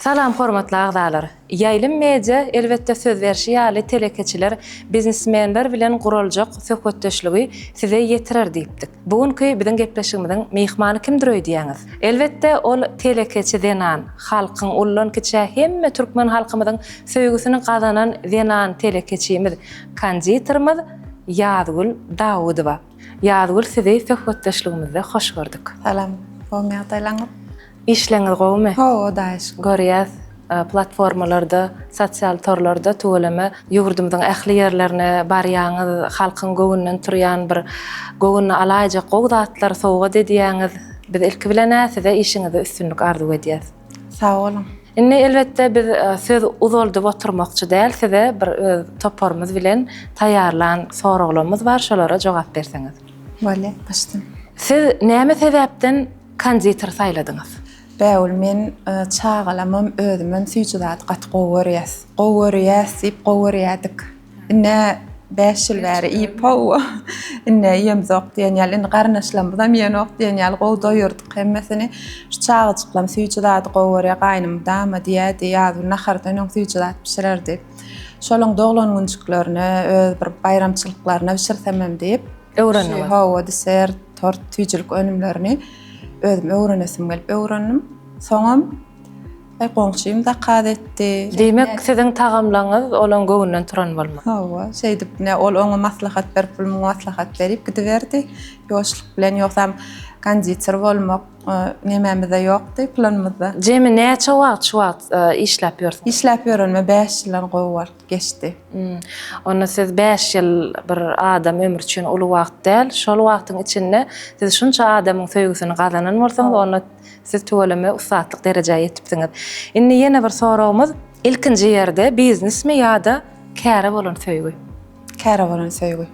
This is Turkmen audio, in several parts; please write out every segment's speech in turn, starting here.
Salam hormatly agzalar. Ýaýlym Media elbetde söz berşi ýaly telekeçiler, biznesmenler bilen guraljak söhbetdeşligi size ýetirer diýipdik. Bu günki biziň gepleşigimiziň myhmany kimdir öýdýäňiz? Elbetde ol telekeçi zenan, halkyň ullan kiçä hemme türkmen halkymyzyň Söýgüsini gazanan zenan telekeçimiz, konditerimiz Ýazgül Dawudowa. Ýazgül sizi söhbetdeşligimizde hoş gördük. Salam, gowymy ýagdaýlaňyz? Işleňiz gowymy? Gowy hudaýa şükür. Görýäs platformalarda, sosial torlarda tüweleme ýurdumyzyň ähli ýerlerine barýaňyz, halkyň göwünden turýan bir göwün alaýjak gowy zatlar sowgat edýäňiz. Biz ilki bilen-ä size işiňizde üstünlik arzuw edýäs. Sag boluň. Indi elbetde biz söz uzaldyp oturmakçy däl size bir öz toparymyz bilen taýýarlan soraglamyz bar şolara jogap berseňiz. Bolýa başdan. Siz näme sebäpden konditer saýladyňyz? Bägül men çagalamam özümem süýji zady gaty gowy görýäs. Gowy görýäs diýip gowy görýädik. Ine, bäş ýyl bäri iýip-how, ine, iýemzok diýen ýaly, indi garyndaşlarymyzam iýenok diýen ýaly, gowy doýurdyk hemmesini. Şu çagajyklam süýji zady gowy görýär, gaýnym dama diýýärdi, ýazgyn nahardan öň süýji zat bişirerdi. Şolaň doglan günjüklerine, öz bir baýramçylyklaryna bişirsemem diýip, Öwrendiňiz? Hawa, desert, tort, süýjülik önümlerini özüm öwrenesim gelip öwrendim. Soňam. He, goňşym zakaz etdi. Diýmek, siziň tagamlaryňyz olaň göwnünden turan bolmaly. Hawa, şeýdip, ine, ol oňa maslahat berip, pul muňa maslahat berip gidiberdi. Ýoşluk bilen, ýogsam, konditer bolmak nämemizde ýokdy, planymyzda. Jemi näçe wagt şu wagt işläp ýörsiňiz? Işläp ýörenime bäş ýyldan gowy wagt geçdi. Onda siz bäş ýyl bir adam ömri üçin uly wagt däl. Şol wagtyň içinde siz şunça adamyň söýgüsini gazanan bolsaňyz, onda. Siz tüweleme ussatlyk derejä ýetipsiňiz. Indi ýene bir soragymyz, ilkinji ýerde biznesmi ýa-da käre bolan söýgi? Käre bolan söýgi.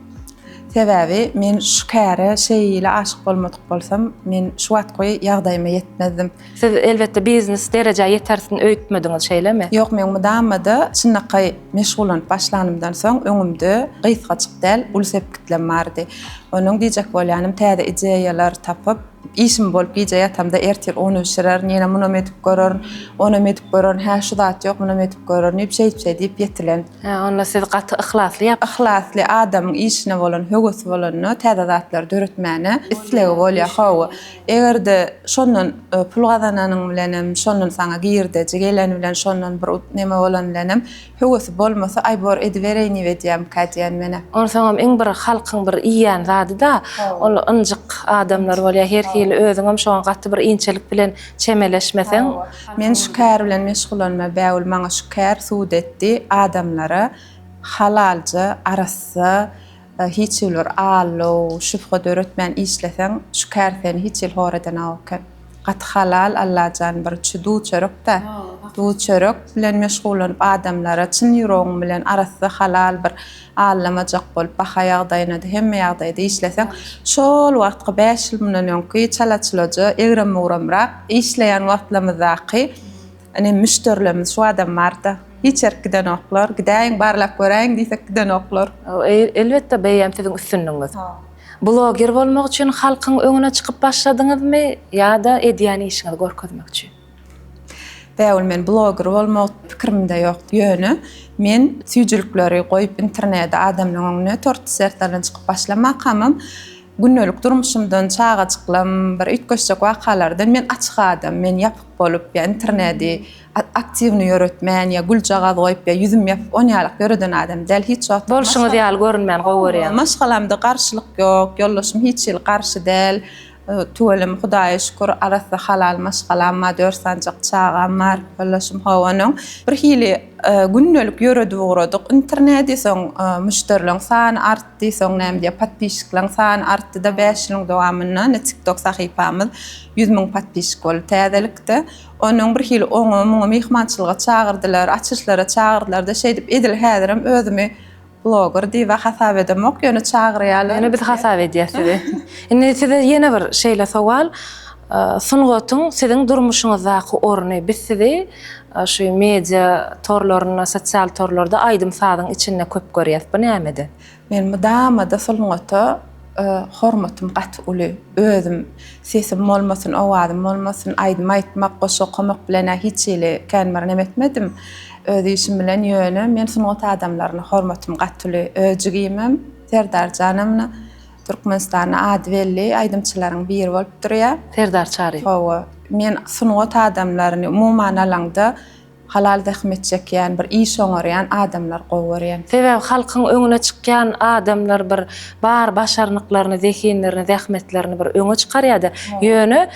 Sebäbi men şu käre şeýle aşyk bolmadyk bolsam, men şu wagtky ýagdaýyma ýetmezdim. Siz elbetde biznes derejä ýetersin öýtmediňiz, şeýlemi? Ýok, men mydama-da çynlakaý meşgullanyp başlanymdan soň öňümde gysgajyk däl, uly sepgitlem bardy. Onuň diýjek bolýanym täze ideýalar tapyp, Işim bolup gije ýatamda ertir un bişirerin, ýene munam edip görerin, onam edip görerin, hä şu zat ýok, munam edip görerin diýip, şeýtse diýip ýetilen. Hä, onda siz gaty yhlasly ýap. Yhlasly, adamyň işine bolan höwesi bolanda, täze zatlary döretmäne islegi bolýar. Hawa, eger-de şondan pul gazananyň bilenem, şondan saňa girdeji geleni bilen, şondan bir neme bolany bilenem Höwesi bolmasa aýbor edibereýniw edýämka diýen menä. Onsoňam iň bir halkyň bir iýýän zadyda ol ynjyk adamlar bolýar her hili özüňem şoňa gaty bir inçelik bilen çemeleşmeseň. Men şu kär bilen meşgulanma bägül maňa şu kär sud etdi adamlara halalja arassa Hiç hili bir allow, şübhe döretmän işleseň, şu kärseni hiç hili hor edenok eken. Gaty halal Allajan bir çü duw-çörek-dä. Duw-çörek bilen meşgullanyp adamlara çyn ýüregiň bilen arassa halal bir allamajak bolup baha ýagdaýyna-da, hemme ýagdaýa-da işleseň, şol wagtky bäş ýyl mundan öňki çala-çuloja, egrem-mugramrak işleýän wagtlarymyzdaky Ine müşderilerimiz şu adam barda hiç ýerik gidenoklar. Gidäýiň barlap göräýiň diýsek gidenoklar. Elbetde bu eýýäm siziň üstünligiňiz. Bloger bolmak üçin halkyň öňüne çykyp başladyňyzmy ýa-da edýän işiňizi görkezmek üçin? Bägül men bloger bolmak pikirimde ýokdy. Ýöne men süýjülikleri goýup internede adamlaryň öňüne torty sertlerden çykyp başlamakamam, Gündelik durmuşymdan, çagajyklam, bir üýtgeşjek wakalardan men açyk adam, men ýapyk bolup ýa internedi aktiwny ýöretmän ýa güljagaz goýup ýa ýüzüm ýapyk on ýalyk ýöreden adam däl hiç wagt. Bolşuňyz ýaly görünmäni gowy görýän. Maşgalamda garşylyk ýok, ýoldaşym hiç hili garşy däl. Tüweleme Hudaýa şükür arassa halal maşgalam bar, dört sanjak çagam bar. Ýoldaşym ho onuň. Bir hili gündelik ýöredip ugradyk internedi soň müşderileriň sany artdy. artdy, soň näme diýýär, podpischikleň sany artdy-da, bäş ýylyň dowamynda ine tiktok sahypamyz ýüz müň podpischik boldy täzelikde. Onuň bir hili oňa, muňa myhmançylyga çagyrdylar, açyşlara çagyrdylar-da, şeýdip edil häzirem özümi bloger diýib-ä hasap edemok, ýöne çagyrýarlar. Ýöne biz hasap edýäs sizi. Indi size ýene bir şeýle sowal, sungatyň siziň durmuşyňyzdaky orny, biz sizi Şu media torlarynda sosial torlarda aýdym sazyň içinde köp görýäs bu nämede. Men mydamada sungata hormatym gaty uly özüm sesim bolmasyn owazym bolmasyn aýdym aýtmak goşgy okamak bilenä hiç hili kän bir neme etmedim öz işim bilen ýöne men sungat adamlaryna hormatym gaty uly öz jigimem Serdarjana muna Türkmenistanda ady belli aýdymçylaryň biri bolup durýar. Serdar Çary. Hawa. Men sungat adamlaryny umuman alaňda halal zähmet çekýän, bir iş oňarýan adamlary gowy görýän. Sebäbi halkyň öňüne çykýan adamlar bir bar başarnyklaryny, zehinlerini, zähmetlerini bir öňe çykarýar-da. Ýöne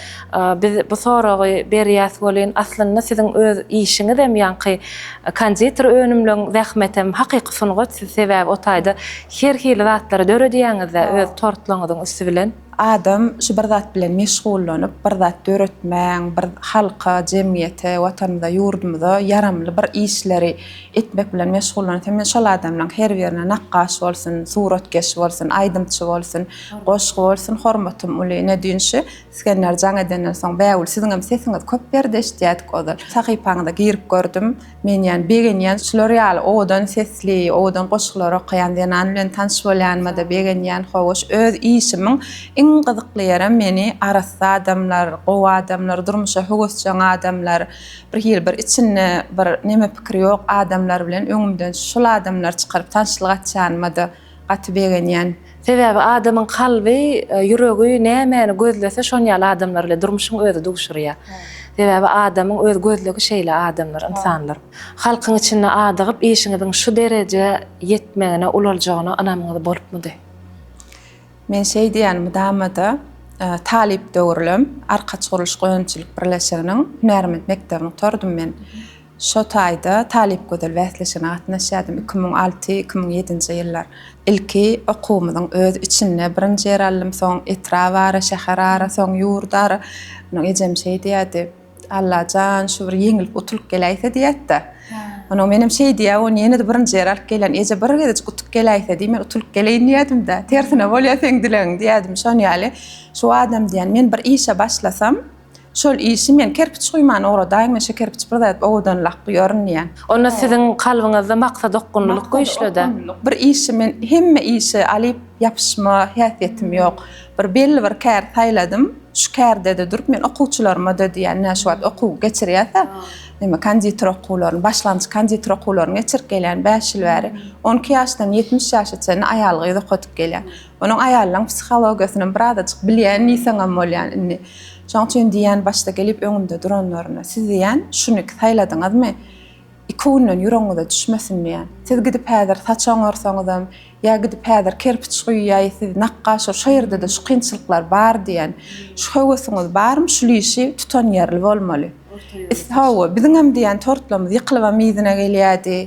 biz bu soragy berýäs welin, aslynda siziň öz işiňizem ýaňky konditer önümleň zähmetem hakyky sungat. Siz sebäbi o taýda Her hili zatlary döredýäňizä öz tortlaryňyzyň üsti bilen. Adam şu bir zat bilen meşgullanyp, bir zat döretmäň, bir halka, jemgyýete, watanymyza, ýurdumyza ýaramly bir işleri etmek bilen meşgullansa, men şol adamlaň her birine nakgaş bolsun, suratkeş bolsun, aýdymçy bolsun, goşgy bolsun hormatym uly. Ine düýn şu Isgender jaň edenden soň bägül siziňem sesiňiz köp berdi eşidýädik ozal. Sahypaňyza girip gördüm. Men ýan begenýän şular ýaly owadan sesli, owadan goşgular okaýan zenan bilen tanyş bolýanyma-da begenýän, howaş öz işimiň iň gyzykly ýerem meni arassa adamlar, gowy adamlar, durmuşa höwesjeň adamlar, bir hili bir içinde bir neme pikiri ýok adamlar bilen öňümden şul adamlar çykaryp tanyşlyk açýanyma-da Gaty begenýän. Sebäbi adamyň kalby, ýüregi nämäni gözlese şon ýaly adamlar ile durmuşyň özi duşurýa. Sebäbi adamyň öz gözlegi şeýle adamlar, ynsanlar. Halkyň içinde adygyp işiňiziň şu derejä ýetmegine ulaljagyna ynamyňyz bolupmydy? Men şeý diýýän mydamada talyp döwürlem Arkaç gurluşyk önümçilik birleşiginiň hünärment mekdebini gutardym men. Şo taýda Talypgözel bäsleşigine gatnaşýardym. Iki müň alty, iki müň ýedinji ýyllar. Ilki okuwymyzyň öz içinde birinji ýer aldym. Soň etrabara, şäherara, soň ýurdara. Onuň ejem şeý diýerdi, Alla jan, şu bir ýeňilip utulyp geläýse diýerdi. Onuň menem şeý diýýä, ony ýene-de birinji ýer alyp gelýän. Eje, bir gezejik utup geläýse diý, men utulyp geleýin diýerdim-de. Tersine bolýa seň dilegiň diýerdim. Şon ýaly, şu adam diýýän, men bir işe başlasam, Şol işi men kerpiç guýman ugradaýyn, men şu kerpiç bir zat owadanlak guýaryn diýýän. Onda siziň kalbyňyzda maksat okgunlylyk güýçli-dä. Bir işi men hemme işe alyp ýapyşma häsiýetim ýok. Bir belli bir kär saýladym, şu kärde-de durup men okuwçylaryma-da diýýän, ine şu wagt okuw geçirýäs-ä, neme konditer okuwlaryny, başlangyç konditer okuwlaryny geçirip gelýän bäş ýyl bäri. On iki ýaşdan ýetmiş ýaşa çenli aýal-gyz okadyp gelýän. Onuň aýalynyň psihologiýasyny birazajyk bilýän diýseňem bolýan indi. Şoň üçin diýýän başda gelip öňümde duranlaryna, siz diýýän şuny saýladyňyzmy? Iki günden ýüregiňize düşmesin diýýän. Siz gidip häzir saç oňarsaňyzam, ýa gidip häzir kerpiç guýýaý, siz nakgaşyr, şo ýerde-de şu kynçylyklar bar diýýän. Şu höwesiňiz barmy, şul işi tutan ýerli bolmaly. Is hawa, biziňem diýýän tortlarymyz ýykylybam yzyna gelýärdi.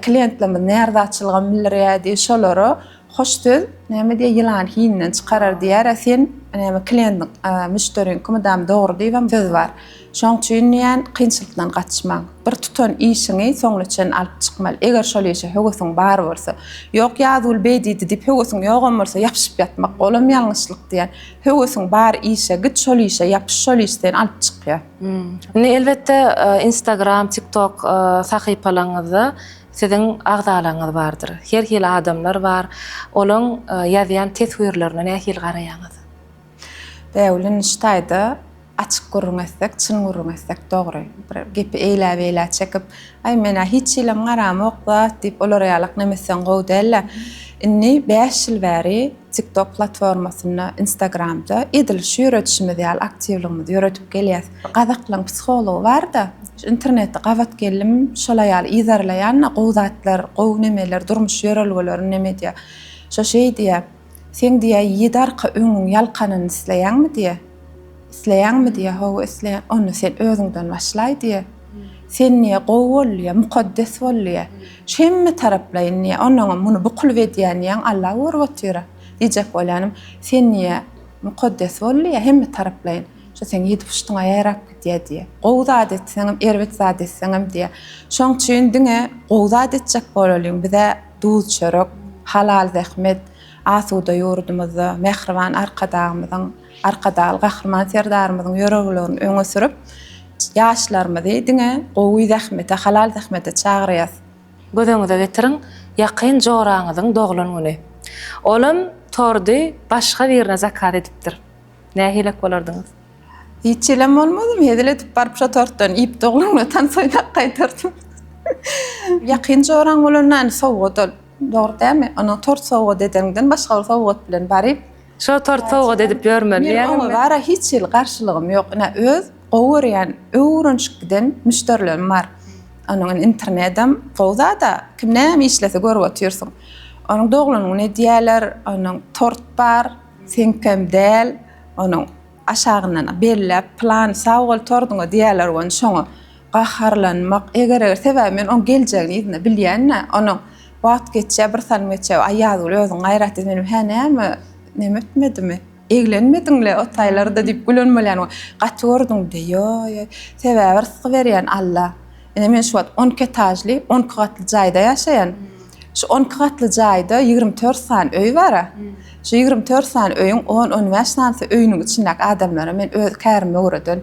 Klientlerimiz närazaçylygam bildirýärdi. Şolara Hoş söz näme diýýär ýylany hininden çykarar diýýärä sen näme kliendiň müşderiňki mydam dogry diýibem söz bar şoň üçin diýýän kynçylykdan gaçmaň bir tutan işiňi soňuna çen alyp çykmaly eger şol işe höwesiň bar bolsa ýok ýazguly beý diýdi diýip höwesiň ýogam bolsa ýapyşyp ýatmak olam ýalňyşlyk diýýän höwesiň bar işe git şol işe ýapyş şol iş seni alyp çykýar. Indi elbetde instagram tiktok sahypalaryňyzda Siziň agzalaryňyz bardyr. Her hili adamlar bar. Olaň ýazýan teswirlerine nähili garaýaňyz? Bägülin şu taýda açyk gürrüň etsek, çyn gürrüň etsek dogry. Bir gepi eýläbeýlä çekip, Aý, men-ä hiç hilem garamok zat diýip, olar ýalak nemeseň gowy däl-ä. Indi bäş ýyl bäri TikTok platformasynda, Instagramda edil şu ýöredişimiz ýaly aktiwligimizi ýöredip gelýäs. Bir gazaklaň psihology bar-da, şu internetde gabat geldim, şola ýaly yzarlaýan-da, gowy zatlar, gowy nemeler, durmuş ýörelgelerini neme diýýär. Şo şeý diýýär, Seň diýýär ýedi arka öňüň ýalkanyn isleýäňmi diýýär. Isleýäňmi diýýär. Hawa, isleýän. Onda sen özüňden başlaý diýýär. Sen diýýär, gowy bol diýýär, mukaddes bol diýýär. Şu hemme taraplaýyn diýýär. Onnoňam muny bu kylyp edýän diýýän Alla görüp otyr-a. Diýjek bolýanym, sen diýýär, mukaddes bol diýýär, hemme taraplaýyn. Şu seň ýedi puştuňa ýarap gidýär diýýär. Gowy zat etseňem, erbet zat etseňem diýýär. Şoň üçin diňe gowy zat etjek bolalyň. Biz-ä duz-çörek, halal zähmet, asuda ýurdumyzda, mähriban Arkadagymyzyň, Arkadagly Gahryman Serdarymyzyň ýöreglerini öňe sürüp, ýaşlarymyzy diňe gowy zähmete, halal zähmete çagyrýas. Göz öňüňize getiriň, ýakyn joraňyzyň doglan güni. Olam tordy başga birine zakaz edipdir. Nähilek bolardyňyz? Hiç hilem bolmazym. Hezil edip baryp şo tortdan iýip doglan güne tans oýnap gaýdardym. Ýakyn joraň bolanda ony sowgat al. Dogry dämi? Ony tort sowgat edeňden başga bir sowgat bilen baryp. Şo tort sowgat edip ýörmeli diýýäňizmi? Men oňa bara hiç hili garşylygym ýok. Ine öz gowy görýän, öwrenşip giden müşderilerim bar. Onuň indi internedem gowy zada. Kim näme işlese görüp otyrsyň. Onuň doglan güni edýäler, onuň tort bar, seňkem däl, onuň. Aşagyndan belläp pylany sagbol tordyňa diýerler goni şoňa gaharlanmak eger eger sebäbi men oň geljegini yzynda bilýänä onuň wagt geçýä bir salym geçýä aý ýazgül özüň gaýrat diýdi menem hä näme neme etmedimi eglenmediňle o taýlarda diýip gülen bolýan gaty gördüňde ýoý ýoý sebäbi rysgy berýän alla. Ine men şu wagt on iki etažly, on iki gatly jaýda ýaşaýan. Şu on iki gatly jaýda ýigrimi dört sany öý bar. Şu ýigrimi dört sany öýüň on, on bäş sanysy öýüniň içindäki adamlara men öz kärime göreden.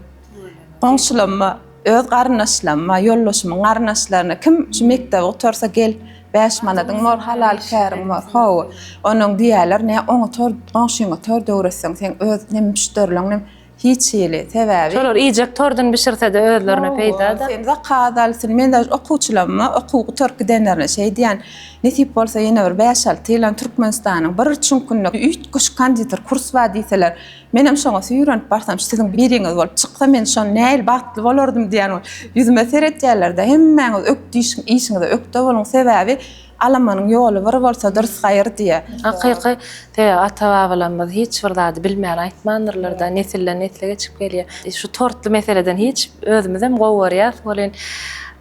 Goňşularyma, öz garyndaşlaryma, ýoldaşymyň garyndaşlaryna kim şu mekdebi gutarsa gel, bäş manadyň bor, halal käriň bor. Hawa, onuň diýerler, nä oňa tor, goňşyňa tor döwretseň, seň öz nem müşderileň, nem Hiç hili sebäbi. Şolar iýjek tordun bişirse-de özlerine peýda-da. Sen zakaz alsyn, men daş okuwçylaryma okuw gutaryp gidenlerine şeý diýän, nesip bolsa ýene bir bäş-alty ýylan Türkmenistanyň bir çüňkünde üýtgeşik konditer kurs bar diýseler, menem şoňa süýrenip barsam, siziň biriňiz bolup çyksa, men şon nähili bagtly bolardym diýen ýüzüme seretýärler-de, hemmäňiz ökdişiň, işiňize ökde boluň, sebäbi, Alamanyň ýoly bir bolsa durs gaýyr diýe. Hakyky sebäbi ata-babalarymyz hiç bir zady bilmän aýtmandyrlar-da, nesilden nesle geçip gelýär. Şu tortly meseleden hiç özümizem gowy görýäs welin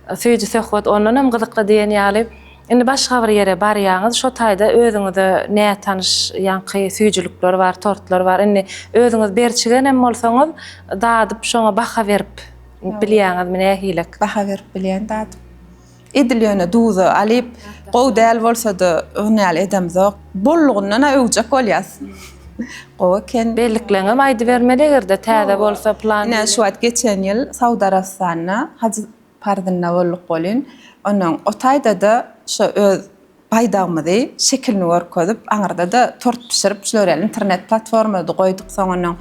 Süýji söhbet ondan hem gyzykly diýen ýaly. Indi başga bir ýere barýaňyz, şo taýda özüňize nätanyş ýaňky süýjülikler bar, tortlar bar. Indi özüňiz berçigen hem bolsaňyz, dadyp şoňa baha berip bilýäňizmi nähilek? Baha berip bilýän dadyp. Edil ýöne duza, alyp, gowy däl bolsada ony ýaly edemzok. Bollugyndan-a öwjek bolýas. Gowy eken. Bellikleňem aýdybermeli eger-de täze bolsa plan. Ine şu wagt geçen ýyl Saud Arabystanyna haj parzynda bolduk welin, ondan o taýda-da şo öz Baýdagymyzy, şekilini görkezip, aňyrda-da tort bişirip, şular ýaly internet platformada goýduk. Soňundan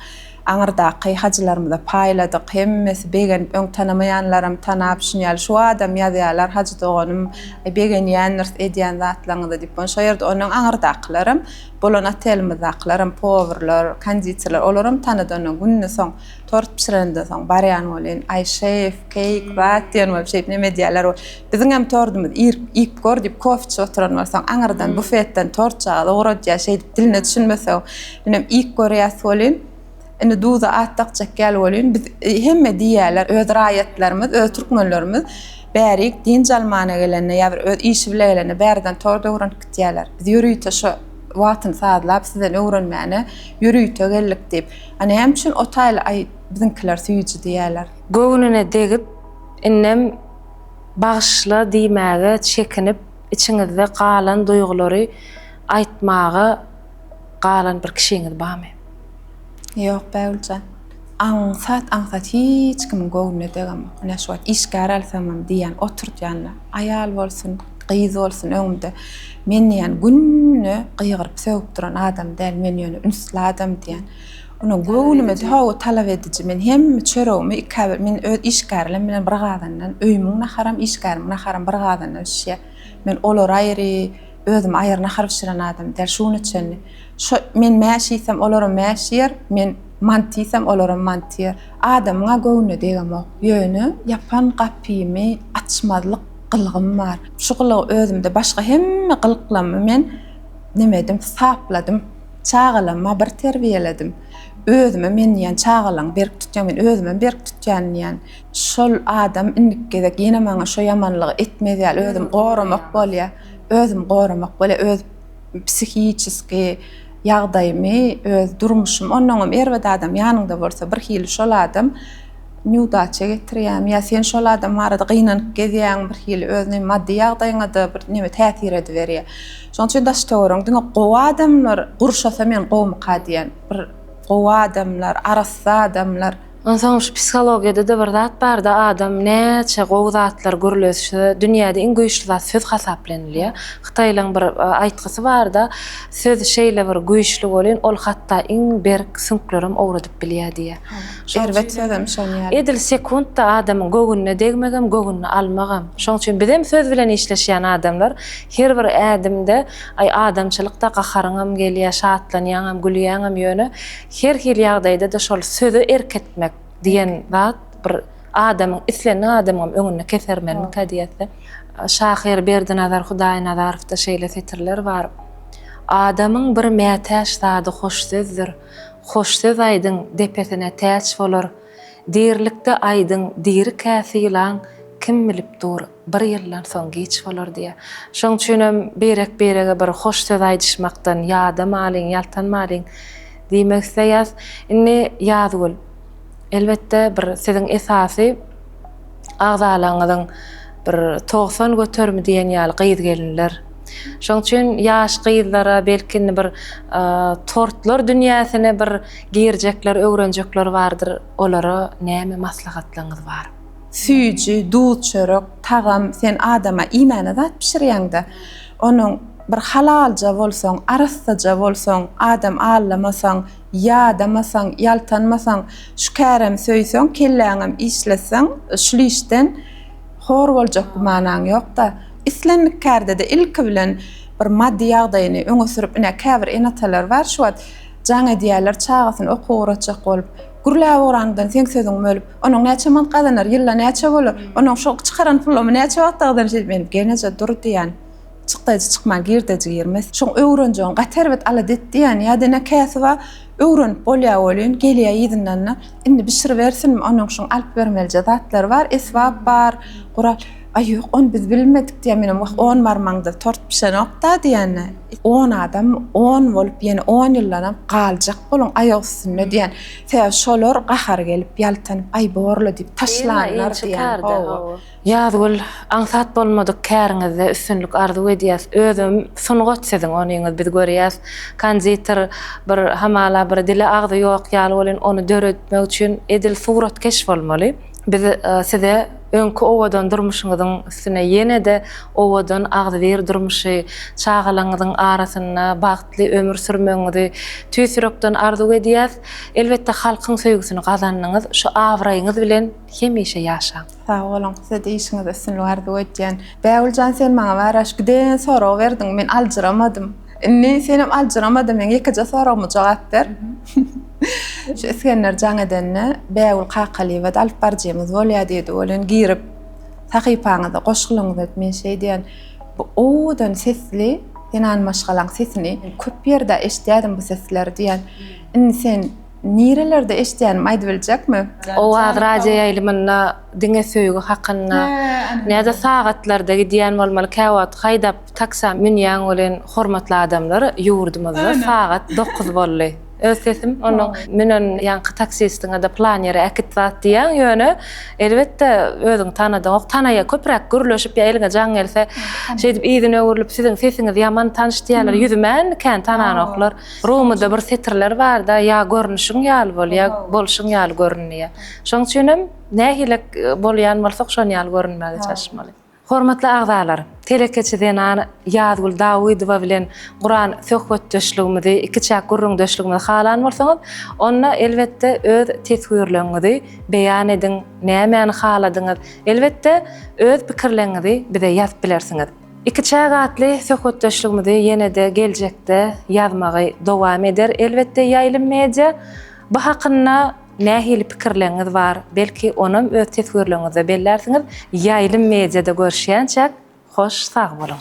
aňyrdaky hajylarymyza paýladyk. Hemmesi begenip, öň tanamaýanlaram tanap, şuny ýaly şu adam ýazýarlar, Hajy doganym, begenýändiris edýän zatlaryňyza diýip. Ony şo ýerde ondan aňyrdakylaram, bolan otelimizdakylaram, powurlar, konditerler, olaram tanady. Ondan günde soň, tort bişireninden soň barýan welin, Aý, şef, keýik, zat diýen bolup, şeýdip, neme edýärler. Biziňem tordumyz irk, iýip gör diýip kofe içip oturan bolsaň, aňyrdan bufetden tortjagaz ugradýar, şeýdip diline düşünmesew, menem iýip görýäs welin, indi duza at dakjak ýaly welin, biz hemme diýýärler, öz raýatlarymyz, öz türkmenlerimiz bärik dynç almana gelende ýa bir öz işi bile gelende bärden tort öwrenip gitýärler. Biz ýörite şo wagtyny sazlap sizden öwrenmäne ýörite geldik diýip, a näme üçin o taýly aý biziňkiler süýji diýýärler. Göwnüne degip, indem. Bagyşla diýmäge çekinip, içiňizde galan duýgulary aýtmaga galan bir kişiňiz barmy? Ýok, Bägüljan. Aňsat, aňsat hiç kimiň göwnüne degem-ok. Ine, şu wagt işgär alsamam diýýän, oturtýan-da. Aýal bolsun, gyz bolsun öňümde men diýýän günde gygyryp-sögüp duran adam däl, men ýöne ünsli adam diýýän. Ony göwnüme hawa talap ediji men hemme çöregimi ikabir men öz işgärlerim bilen bir gazandan öýümiň naharam işgärimiň naharam bir gazandan bişýär men olar aýry özüm aýry nahar bişiren adam däl şu güne çenli şo men mäş iýsem olaram mäş iýer men manty iýsem olaram manty iýer adamyňa göwnüne degemok ýöne ýapan gapymy açmazlyk gylgym bar şu gylygy özümde başga hemme gylyklamy men neme edim sapladym. Çagalamma bir terbiýeledim. Özümem men diýýän çagalaň berk tutýaň men özümem berk tutýan diýýän. Şol adam indiki gezek ýene maňa şo ýamanlygy etmez ýaly özüm goramak bolýa. Özüm goramak bolýa öz psihiçeski ýagdaýymy öz durmuşym onnoňam erbet adam ýanyňda bolsa bir hili şol adam Neudaça getirýärmi ýa sen şol adam barada gynanyp gezýäňmi bir hili özüni maddy ýagdaýyňada bir neme täsir ediberýär. Şoň üçin daş töweregiň diňe gowy adamlar gurşasa men gowumyka diýen bir gowy adamlar arassa adamlar. Onsoň şu psihologiýadada bir zat barda adam näçe gowy zatlar gürlese dünýäde iň güýçli zat söz hasaplanylýar. Hytaýlaň bir aýtgysy barda söz şeýle bir güýçli welin ol hatda iň berk süňklerem owradyp bilýär diýýär. Erbet sözem şon ýaly. Edil sekuntda adamyň göwnüne degmegem, göwnüni almagam. Şoň üçin bizem söz bilen işleşýän adamlar. Her bir ädimde, aý, adamçylykda gaharyňam gelýär, şatlanýaňam, gülýäňem, ýöne her hili ýagdaýda-da şol söze erk etmek diýen zat bir adamyň, islendik adamyňam öňünde kesermenmikä diýesi. Şahyr Berdinazar Hudaýnazarowda şeýle setirler bar, Adamyň bir mätäç zady hoş sözdür. Hoş söz aýdyň, depesine täç bolar. Dirilikde aýdyň, diri kä sylaň, Kim bilip dur, bir ýyldan soň giç bolar diýýär. Şonuň üçin hem birek-birege bir hoş söz aýdyşmakdan ýadamalyň, ýaltanmalyň diýmek isleýäs. Indi Ýazgül, elbetde bir siziň esasy. agzalaňyzyň bir togsan göterimi diýen ýaly gyz gelinler. Şoň üçin ýaş gyzlara belki indi bir tortlar dünýäsine bir girjekler öwrenjekler bardyr olara näme maslahatlaňyz bar. Süýji, duz çörek, tagam sen adama iýmäne zat bişirýäňdä onuň bir halalja bolsaň arassaja bolsaň adam allamasaň, Ýadamasaň, ýaltanmasaň, şu kärem söýseň, kelläňem işletseň, şul işden hor boljak gümanaň ýok-da. Islendik kärde-de ilki bilen bir maddy ýagdaýyny öňe sürüp, ine, käbir ene-atalar bar, şu wagt jan edýärler çagasyny okuwa ugratjak bolup. Gürläp ugranyňdan seň sözüň bölüp, onuň näçe mant gazanar, ýylda näçe bolar, onuň şu çykaran pulamy näçe wagtda gazanar, şeýdip, men geneje dur diýän. Çykdaýjy çykman girdeji girmes. Şoň öwrenjegiň gaty erbet alada et diýýän ýa dine käsiba öwrenip bolýa welin gelýä yzyndanna indi bişiribersinmi onuň şuň alyp bermelije zatlary bar esbap bar gural aý ýok ony biz bilmedik diýýä menem wah on barmaňda tort bişenokda diýýänä on adam on bolup ýene on ýyldanam galjak boluň aýak üstünde diýýän sebäbi şolar gahary gelip ýaltanyp aý borla diýip taşlanlar diýýän hawa. Ýazgül aňsat bolmadyk käriňizde üstünlik arzuw edýäs özem sungat siziň onyňyz biz görýäs konditer bir hamala bir dili agzy ýok ýaly welin ony döretmek üçin edil suratkeş bolmaly biz size öňki owadan durmuşyňyzyň üstüne ýenede owadan agzybir durmuşy çagalaňyzyň arasynda bagtly ömür sürmegiňizi tüýs ýürekden arzuw edýäs elbetde halkyň söýgüsini gazandyňyz şu abraýyňyz bilen hemişe ýaşaň. Sag boluň, size-de işiňizde üstünlik arzuw edýän. Bägüljan sen maňa baraş giden sorag berdiň, men aljyramadym. Indi senem aljyrama-da meň ýekeje soragyma jogap ber. Şu Isgender jaň edende Bägül Kakalyýewa-da alyp baryjymyz bolýa diýdi, welin girip sahypaňyzda goşgylaryňyzy edip men şeýdýän. Bu owadan sesli zenany maşgalaň sesini köp ýerde eşidýädim bu sesleri diýýän. Indi sen Nirelerde eşidýänim aýdybiljekmi? Owaz radio ýaýlymynda diňe söýgi hakynda. Nädip sagatlarda gidýän bolmaly käwagt haýdap taksa münýäň welin hormatly adamlar ýurdumyzda sagat dokuz boldy. Öz sesim onda münen ýaňky taksistiňede plan ýere äkit zat diýýäň ýöne elbetde özüň tanadyňok tanaýa köpräk gürleşip ýa eliňe jaň gelse şeýdip yzyna öwrülip siziň sesiňiz ýaman tanyş diýýäler ýüzümän kän tananoklar. Rumyda bir setirler barda, Ýa görnüşiň ýaly bol, ýa bolşuň ýaly görün diýýär. Şonuň üçinem nähili bolýan bolsak, şon ýaly görünmäge çalyşmaly. Hormatly agzalar, telekeçi zenan Ýazgül Dawydowa bilen guran söhbetdeşligimizi, ikiçäk gürrüňdeşligimizi halan bolsaňyz, onda elbetde öz teswirleňňizi beýan ediň, nämäni haladyňyz, elbetde öz pikirleňňizi bize ýazyp bilersiňiz. Iki çagatly söhbetdeşligimizi ýene-de geljekde ýazmagy dowam eder elbetde Ýaýlym Media bu hakynda nähili pikirleňňiz bar belki onam öz teswirleňňizde bellärsiňiz Ýaýlym Mediada görüşýänçäk hoş sag boluň.